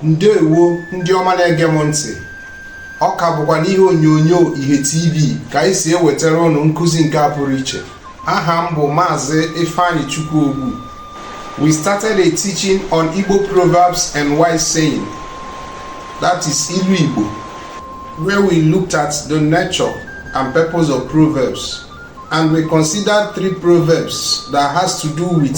ndewo ndị ọma na-ege m ntị ọ ka bụkwa n'ihe onyonyo ihe tv ka anyị si ewetara unu nkụzi nke a pụrụ iche aha m bụ maazị ifeanyichukwu ogbu we started a teaching on igbo proverbs and wise saying that is ilu igbo where we looked at the nature and purpose of proverbs and we considered three proverbs that has to do with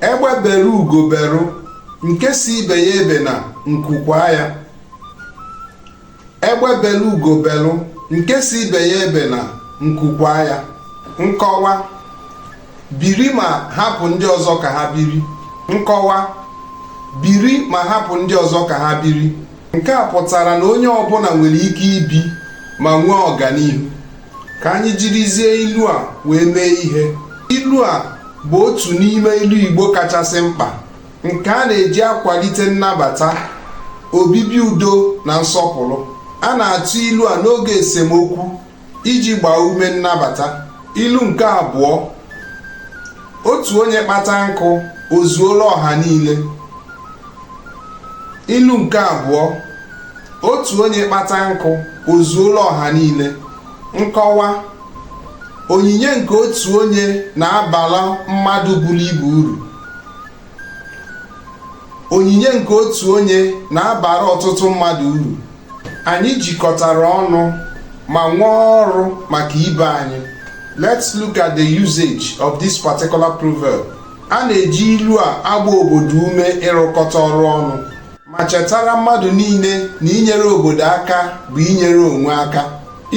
egbe beru ugo beru nke sị ibe ya ebena nku kwaa ya egbe beru ugo beru nke sị ibe ya ebena nku kwaa ya nkọwa biri ma hapụ ndị ọzọ ka ha biri nkọwa biri ma hapụ ndị ọzọ ka ha biri nke a pụtara na onye ọbụla nwere ike ibi ma nwee ọganihu ka anyị jirizie ilu a wee mee ihe ilu a bụ otu n'ime ilu Igbo kachasị mkpa nke a na-eji akwalite nnabata obibi udo na nsọpụrụ a na-atụ ilu a n'oge esemokwu iji gbaa ume nnabata ilu nke abụọ otu onye kpata nkụ o zuola ọha niile ilu nke abụọ otu onye kpata nkụ o zuola ọha niile nkọwa onyinye nke otu onye na-abala mmadụ buru ibu uru onyinye nke otu onye na-abara ọtụtụ mmadụ uru anyị jikọtara ọnụ ma nwee ọrụ maka ibe anyị let's look at the usage of this particular proverb a na-eji ilu a agba obodo ume ịrụkọta ọrụ ọnụ ma chetara mmadụ niile na inyere obodo aka bụ inyere onwe aka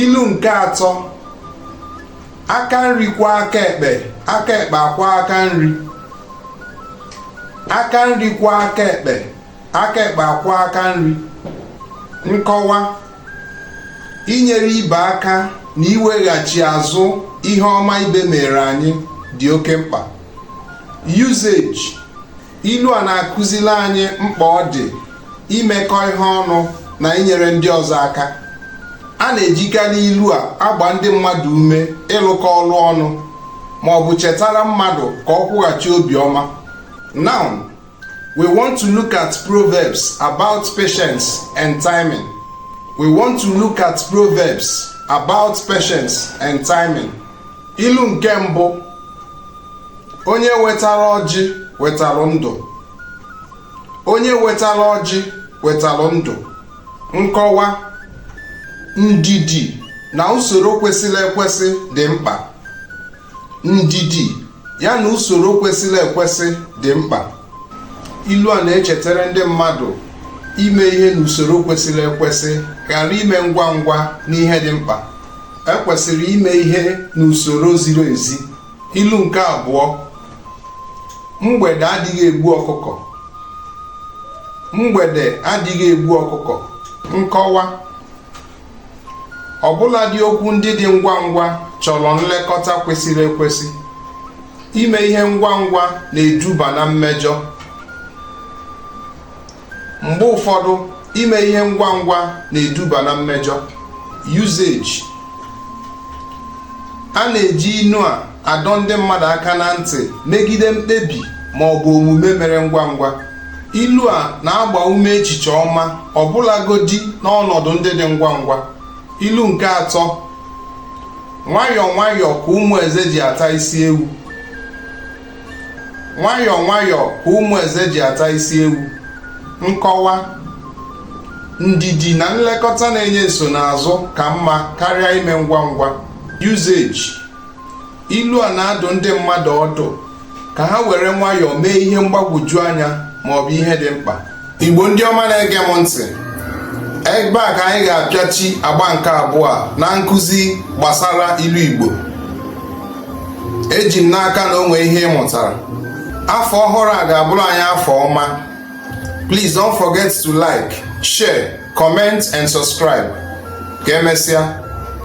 ilu nke atọ aka nri kwọọ aka ekpe aka ekpe akwọọ aka nri aka nri kwọọ aka ekpe aka ekpe akwọọ aka nri nkọwa inyere ibe aka na iweghachi azụ ihe ọma ibe mere anyị dị oke mkpa usage ilu a na-akụzili anyị mkpa ọ dị imekọ ihe ọnụ na inyere ndị ọzọ aka a na-ejikarị ilu a agba ndị mmadụ ume ịlụkọ ọrụ ọnụ ma ọ bụ chetara mmadụ ka ọ kwụghachi obiọma now We want to look at proverbs about patience and timing. We want to look at proverbs about patience and timing. Ilu nke mbụ onye wetara ọjị wetara ndụ onye wetara ọjị wetara ndụ nkọwa ndidi na usoro kwesịrị ekwesị dị mkpa ndidi ya na usoro kwesịrị ekwesị dị mkpa ilu a na-echetara ndị mmadụ ime ihe n'usoro kwesịrị ekwesị ghara ime ngwa ngwa n'ihe dị mkpa e kwesịrị ime ihe n'usoro ziri ezi ilu nke abụọ mgbede adịghị egbu ọkụkọ mgbede adịghị egbu ọkụkọ nkọwa ọbụladị okwu ndị dị ngwa ngwa chọrọ nlekọta kwesịrị ekwesị ime ihe ngwa ngwa na-eduba na mmejọ mgbe ụfọdụ ime ihe ngwa ngwa na-eduba na mmejọ usage a na-eji ilu a adọ ndị mmadụ aka na ntị megide mkpebi ma ọ bụ omume mere ngwa ngwa ilu a na-agba ume echiche ọma ọbụlagodi n'ọnọdụ ndị dị ngwa ngwa ilu nke atọ nwayọọ nwayọọ ka ụmụ eze ji ata isi ewu nwayọọ nwayọọ ka ụmụ eze ji ata isi ewu nkọwa ndidi na nlekọta na-enye nsonaazụ ka mma karịa ime ngwa ngwa usage ilu a na-adụ ndị mmadụ ọdụ ka ha were nwayọọ mee ihe mgbagwoju anya ma ọ bụ ihe dị mkpa igbo ndị ọma na-ege m ntị ebe a ka anyị ga-apịachi agba nke abụọ na nkụzi gbasara ilu igbo eji m n'aka na o nwe ihe ị mụtara afọ ọhụrụ a ga-abụrụ anyị afọ ọma please don't forget to like share comment and subscribe ka emesịa